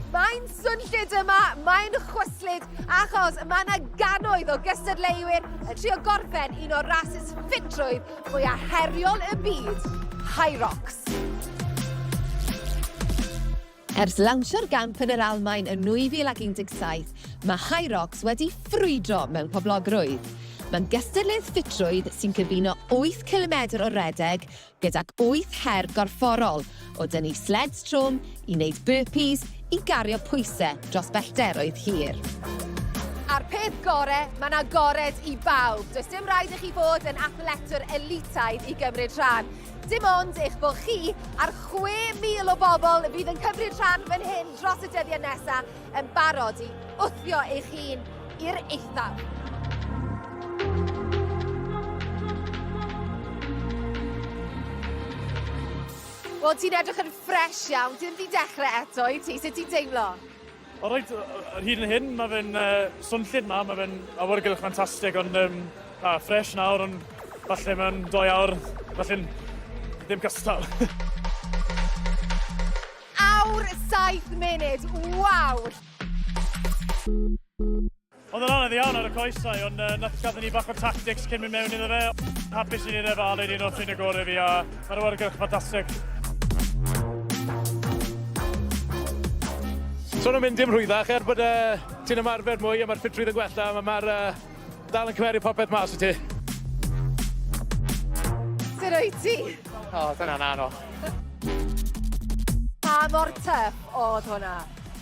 Mae'n swnllyd yma, mae'n chwyslyd, achos mae yna gannoedd o gystadleuwyr yn trio gorffen un o'r rhasys ffitrwydd mwyaf heriol y byd, High Rocks. Ers lawnsio'r gamp yn yr Almaen yn 2017, mae Hyrox wedi ffrwydro mewn poblogrwydd. Mae'n gystadleuaeth ffitrwydd sy'n cyfuno wyth cilomedr o redeg gydag wyth her gorfforol, o dynnu sleds trwm, i wneud burpees, i gario pwysau dros bellteroedd hir. A'r peth gore, mae 'na gored i bawb. Does dim rhaid i chi fod yn athletwr elitaidd i gymryd rhan. Dim ond eich bod chi a'r 6,000 o bobl fydd yn cymryd rhan fan hyn dros y dyddiau nesaf yn barod i wthio eich hun i'r eithaf. Wel, ti'n edrych yn ffresh iawn. Ti ddim wedi dechrau eto, wyt ti? Sut ti'n teimlo? O reit, ar hyd yn hyn, mae fe'n uh, swnllyd ma, mae fe'n awyrgylch ffantastig, ond um, a, ffres nawr, ond falle mewn doi awr, falle'n ddim cystal. awr 7 munud, waw! Oedd yn anodd iawn ar y coesau, ond uh, nath gadw ni bach o tactics cyn mynd mewn iddo fe. Hapus i ni ref a leid un o'r ffrin y gorau fi a mae'r wargylch ffantastig. So nhw'n mynd dim rhwyddach er bod uh, ti'n ymarfer mwy a mae'r ffitrwydd yn gwella, mae'r ma uh, dal yn cymeru popeth mas i ti. Sut o'i ti? O, oh, dyna'n anodd. Pa mor tyff oedd hwnna?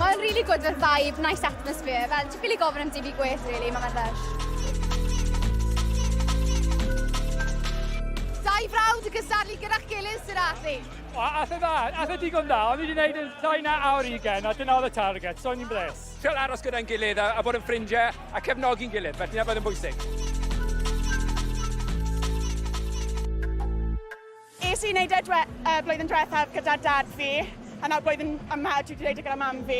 Mae'n really good with vibe, nice atmosphere. Fel, ti'n ffili gofyn am dim i gweith, really, mae'n fe'n lush. Dau frawd yn gysadlu gyda'ch gilydd, sy'n allu. O, atho dda, atho digon dda. O'n i wedi gwneud yn llai na awr i gen, a dyna oedd y target, so o'n i'n bles. Cael aros gyda'n gilydd a, a bod yn ffrindiau a cefnogi'n gilydd, felly na bod yn bwysig. Es i wneud e dwe, uh, blwyddyn diwethaf gyda dad fi, a nawr blwyddyn yma dwi wedi gwneud e gyda mam fi.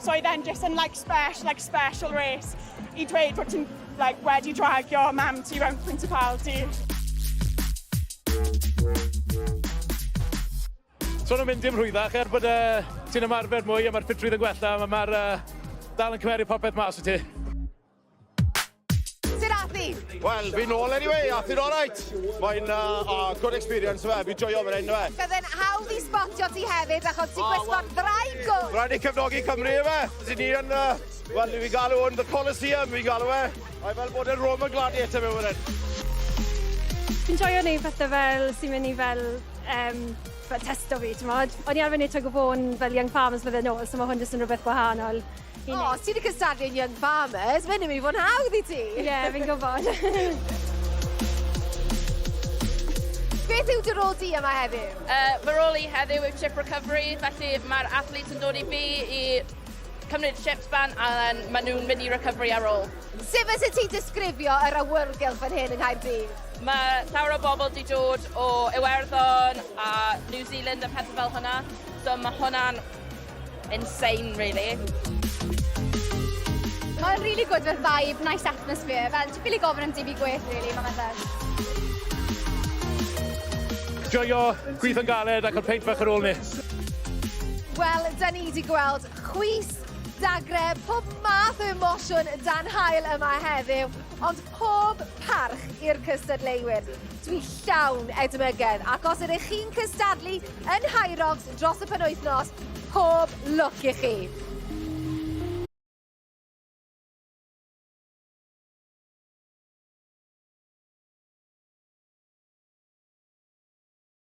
So oedd e'n just yn like special, like special race i dweud bod ti'n like, wedi dragio mam ti mewn principality. So nhw'n mynd i'n rhwyddach er bod uh, ti'n ymarfer mwy a mae'r ffitrwydd yn gwella, mae'r uh, dal yn cymeriad popeth mas o ti. Wel, fi'n ôl anyway, a fi'n alright. Mae'n uh, uh, good experience fe, fi'n joio fan hyn fe. Bydd yn hawdd i spotio ti hefyd, achos ti'n gwisgo'r ddraig o. Rhaid i cefnogi Cymru fe. Dyn ni yn, uh, wel, fi'n galw yn The Coliseum, fi'n galw fe. A'i fel bod yn Roman Gladiator fe fan hyn. Fi'n joio neud pethau fel sy'n mynd i fel um, fel testo fi, ti'n modd. O'n i arfer neud tug o bôn fel Young Farmers flwyddyn ôl, so mae hwn jyst yn rhywbeth gwahanol. O, os ti wedi cystadlu yn Young Farmers, mae'n mynd i fod yn hawdd i ti. Ie, yeah, fi'n gwybod. Beth yw dy rôl di yma heddiw? Uh, fy rôl i heddiw yw chip recovery, felly mae'r athletes yn dod i fi i cymryd chips ban a maen nhw'n mynd i recovery ar ôl. Sut fysa ti'n disgrifio yr awyrgylch fan hyn yng Nghaerdydd? Mae llawer o bobl wedi dod o Iwerddon a New Zealand a pethau fel hwnna. So mae hwnna'n Insane really. Mae'n really good for vibe, nice atmosphere. Fel, ti'n ffili gofyn am dibi gwell, really, mae'n meddwl. Joio, gwych yn galed ac yn peint fach ar ôl ni. Wel, da ni wedi gweld chwys, dagre, pob math o emosiwn dan hael yma heddiw. Ond Pob parch i'r cystadleuwyr. Dwi llawn edmygedd ac os ydych chi'n cystadlu yn Hyrox dros y penwythnos, pob lwc i chi!